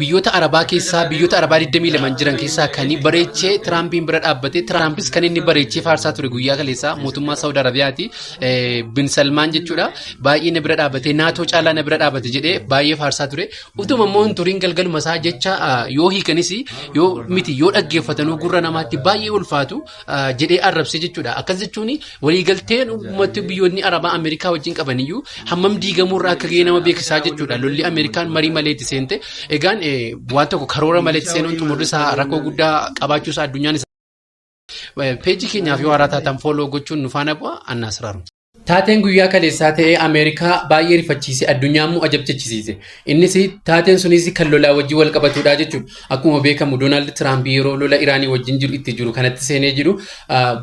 biyyoota arabaa keessaa biyyoota arabaa 22 jiran keessaa kan bareechee tiraampiin bira dhaabbate tiraampis kan inni bareechee faarsaa ture guyyaa kaleessaa mootummaa saawud arabiyaati bin salmaan jechuudha baay'ee na bira dhaabbate naatoo caalaa na bira dhaabbate jedhee baay'ee faarsaa ture utuma immoo hin turiin galgaluma isaa jecha yoo hiikanis yoo miti yoo dhaggeeffatanuu gurra namaatti baay'ee ulfaatu jedhee arrabse jechuudha. Akkas jechuun waliigalteen uummatni biyyoonni Arabaa Ameerikaa wajjin qabaniyyuu hammam diigamuu irraa akka ga'e nama beeksisaa jechuudha. Lolli Ameerikaan marii malee itti seente egaan waan tokko karoora malee itti seenuun xumurri isaa rakkoo guddaa qabaachuu isaa addunyaan isaa. Peejii keenyaaf yoo haaraa taatan fooloo gochuun nu faana bu'a annaa siraaru. Taateen guyyaa kaleessaa ta'ee Ameerikaa baay'ee rifachiise addunyaa immoo ajabchachisiise. Innis taateen sunis kan lolaa wajjin wal qabatudha jechuudha. Akkuma beekamu Doonaald Tiraamp yeroo lola Iraanii wajjin jiru itti jiru kanatti seenee jiru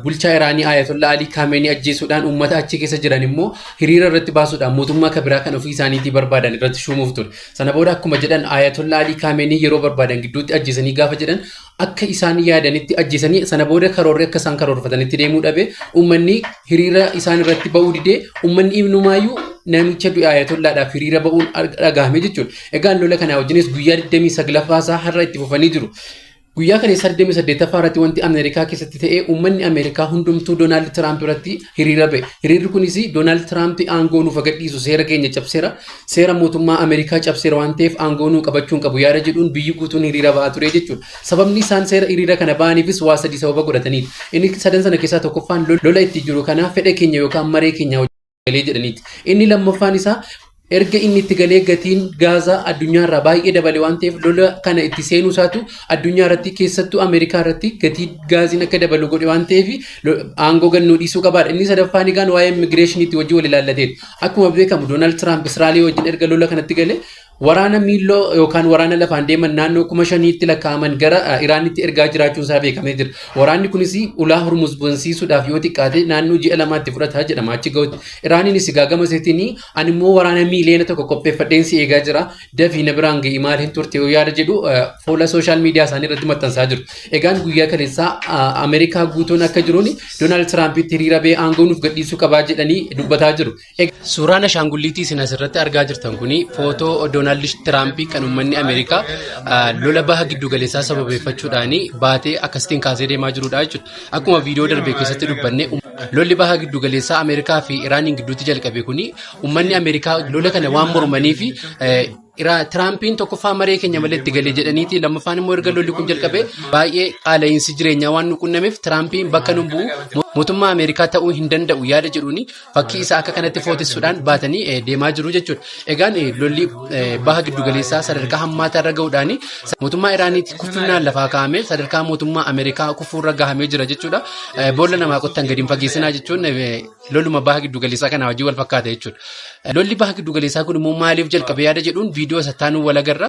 bulchaa Iraanii Ayatollaa Alii Kaameenii ajjeesuudhaan uummata achi keessa jiran immoo hiriira irratti baasuudhaan mootummaa kan biraa kan ofii isaaniitii barbaadan irratti shuumuuf ture. Sana booda akkuma jedhan Ayatollaa Alii Kaameenii yeroo barbaadan gidduutti ajjeesanii gaafa jedhan akka isaan yaadanitti ajjeesanii sana booda karoorri akka isaan karoorfatanitti deemuu dhabe ummanni hiriira isaan irratti ba'uu didee ummanni ibnumaayyuu namicha du'e ayatollaadhaaf hiriira ba'uun dhagahame jechuudha. Egaa lola kanaa wajjinis guyyaa 29ffaa isaa har'a itti fufanii jiru. Guyyaa kana 28ffaa irratti wanti Ameerikaa keessatti ta'e uummanni Ameerikaa hundumtuu Doonaald Tiraamp irratti hiriira ba'e. Hiriirri kunis Doonaald Tiraamp aangoo nuuf agadhiisu seera keenya cabseera. Seera mootummaa Ameerikaa cabseera waan ta'eef aangoo nuu qabachuu hin qabu yaada jedhuun biyyi guutuun hiriira bahaa ture jechuudha. Sababni isaan seera hiriira kana bahaniifis waa sadii sababa godhataniiti. Inni sadan sana keessaa tokkoffaan lola itti jiru kanaa fedha keenya yookaan maree keenya galee jedhaniiti. Inni lammaffaan isaa erga inni itti galee gatiin gaazaa addunyaa irraa baay'ee dabale waan ta'eef lola kana itti seenuu isaatu addunyaa irratti keessattuu Ameerikaa irratti gatii gaaziin akka dabalu godhe waan ta'eef aangoo gannuu dhiisuu qabaadha. Inni sadaffaan egaan waa'ee immigireeshiniitti wajjin wal ilaallateeti. Akkuma beekamu Doonaald Tiraamp Israa'elii wajjin erga lola kanatti gale waraana miilloo yookaan waraana lafaan deeman naannoo kuma shaniitti lakkaa'aman gara Iraanitti ergaa jiraachuun isaa beekamee jira. Waraanni kunis ulaa Hormuz bansiisuudhaaf yoo xiqqaate naannoo ji'a lamaatti fudhata jedhama achi ga'utti. Iraaniinis gaagama seetiin ani immoo waraana miiliyoona tokko qopheeffadheen si eegaa jira. dafii na biraan ga'i maal hin turte yoo yaada jedhu fuula sooshaal miidiyaa isaanii irratti maxxansaa jiru. Egaan guyyaa kaleessaa Ameerikaa guutuun akka jiruun Doonaald Tiraampitti hiriira ba'ee aangoo nuuf gadhiisuu qabaa jedhanii dubbataa jiru. Suuraan ashaangulliitii isin asirratti argaa jirtan kun footoo Doonaald Tiraampii kan uummanni Ameerikaa lola baha giddu galeessaa sababeeffachuudhaan baatee akkasitiin kaasee deemaa jirudha jechuudha. Akkuma viidiyoo darbe keessatti dubbanne lolli baha giddu galeessaa Ameerikaa fi Iraaniin gidduutti jalqabe kun Uummanni Ameerikaa lola kana waan mormanii fi Tiraampiin tokkoffaa maree keenya malee itti galee jedhaniiti lammaffaan immoo erga lolli kun jalqabe baay'ee qaala'iinsi jireenyaa waan nu qunnameef Tiraampiin bakka nu bu'u mootummaa Ameerikaa ta'uu hin danda'u yaada jedhuuni fakkii isaa akka kanatti footessuudhaan baatanii eh, deemaa jiru jechuudha. Egaan eh, lolli eh, baha giddugaleessaa sadarkaa hammaataa irra ga'uudhaan mootummaa Iraaniitti kuffinaan lafaa kaa'ame sadarkaa mootummaa Ameerikaa kufuurra gahamee jira jechuudha. Eh, Boolla namaa qottan gadi hin fageessinaa jechuun eh, Loluma baha giddu galeessaa kanaa wajjin wal fakkaata jechuudha. Lolli baha giddu galeessaa kun immoo maaliif jalqabe yaada jedhuun viidiyoo isa taanuu wal agarra.